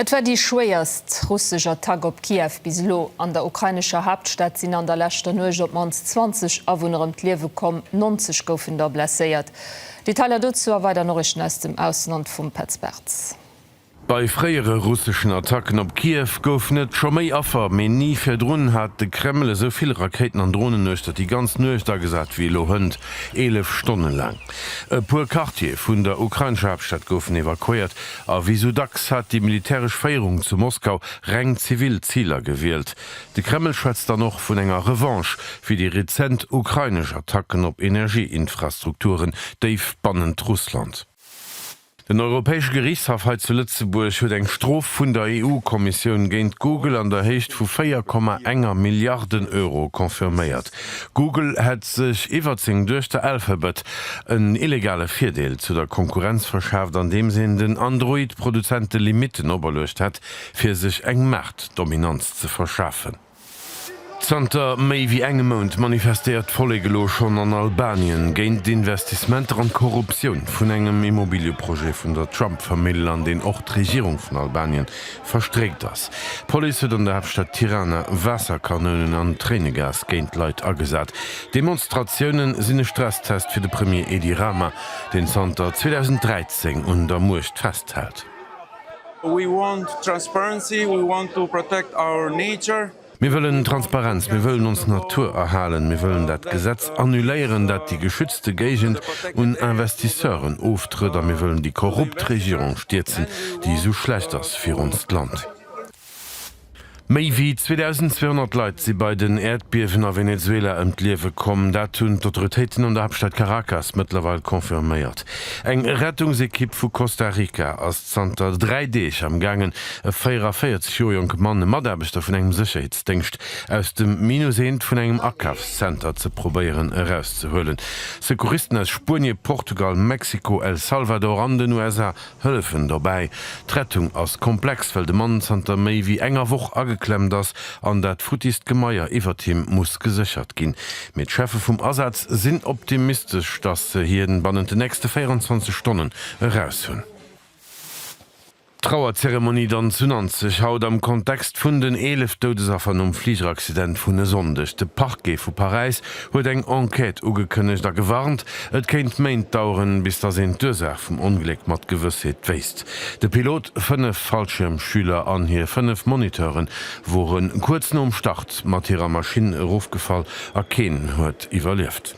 Et war déi schwéierst russesch Attack op Kiew bis elo. An der ukrainescher Haaptstad sinn an der leschter Nuecht op d'mannst 20 Awunner ëm d'Liewe komm, 90 goufen der blesséiert. Detailer dozou a weider Noriichten aus dem Ausland vum Petz Bartz. Bei fréiere russeschen Attacken op Kiew goufen et scho méi Affer, mee ni virdrun hat de Kreml esou vill Rakéiten an Dronen uechter déi ganz Nuecht agesat wéi elo hënt, 11 Stonne laang. E puer Quartiere vun der ukrainescher Haaptstad goufen evakuéiert, A wéi sou dacks hat déi militäresch Féierung zu Moskau reng zivil Ziler gewielt. De Kreml schwätzt dann och vun enger Revanche fir déi rezent ukrainesch Attacken op Energieinfrastrukturen déif bannent Russland. Den Europäesche Geriichtshaff hei zu Lëtzebuerg huet eng Strof vun der EU-Kommissioun géint Google an der Héicht vu 4,1 Milliarden Euro confirméiert. Google hätt sech iwwert seng Duechter Alphabet en illegale Virdeel zu der Konkurrenz verschaaft, andeems een den Android-Produzente Limitten operluecht hätt, fir sech eng Maartdominanz ze verschafen. Zanter méi wéi engem Mount manifestéiert d'Vollek elo schonn an Albanien géint d'Investissementer an d'Korruptioun vun engem Immobiliëprojet vun der Trump-Famill, an deen och d'Regierung vun Albanien verstréckt ass. D'Police huet an der Haaptstad Tirana Waasserkanounen an Tréinegas géint d'Leit agesat. D'Demonstratioune sinn e Stresstest fir de Premier Edi Rama, deen zanter 2013 un der Muecht festhält. Mir wëllen Transparenz, mir wëllen ons Natur erhalen, mir wëllen dat Gesetz annuléieren, dat déi geschützte Géigend un Investisseuren oftrëtt a mir wëllen déi korrupt Regierung stierzen, déi esou schlecht ass fir onst Land. Méi wéi 2.200 Leit si bei den Äerdbiewen a Venezuela ëm d'Liewe komm. Dat hunn d'Autoritéiten an der Haaptstad Caracas mëttlerweil confirméiert. Eng Rettungsekipp vu Costa Rica ass Zanter dräi Deeg am gaangen, E 44 Joer jonke Mann, e Mataarbechter vun engem Sécherheetsdéngscht, aus dem Minus eent vun engem Akafszenter ze probéieren erauszehuelen. Secouristen aus Spuenie, Portugal, Mexiko, El Salvador an den USA hëllefen dobäi. D'Rettung ass komplex, well de Mann zanter méi wéi enger Woch ageklemmt ass an dat futtiist Gemaier iwwert him muss geséchert ginn. Mee d'Cheffe vum Asaz sinn optimistesch, dass se hien bannent de nächste 24 Stonnen eraushunn. D'Trauerzeremonie dann zu Nanzeg haut am Kontext vun den 11 Doudesaffer nom Fligeraccident vun e Sonndeg. De Parquet vu Paräis huet eng Enquête ugekënnegt a gewarnt, et kéint Méint daueren, bis datt een d'Ursaach vum Ongléck mat Gewëssheet wéisst. De Pilot, fënnef Fallschiermschüler an hir fënnef Moniteure wore kuerz nom Start mat hirer Maschinn erofgefall a keen huet iwwerlieft.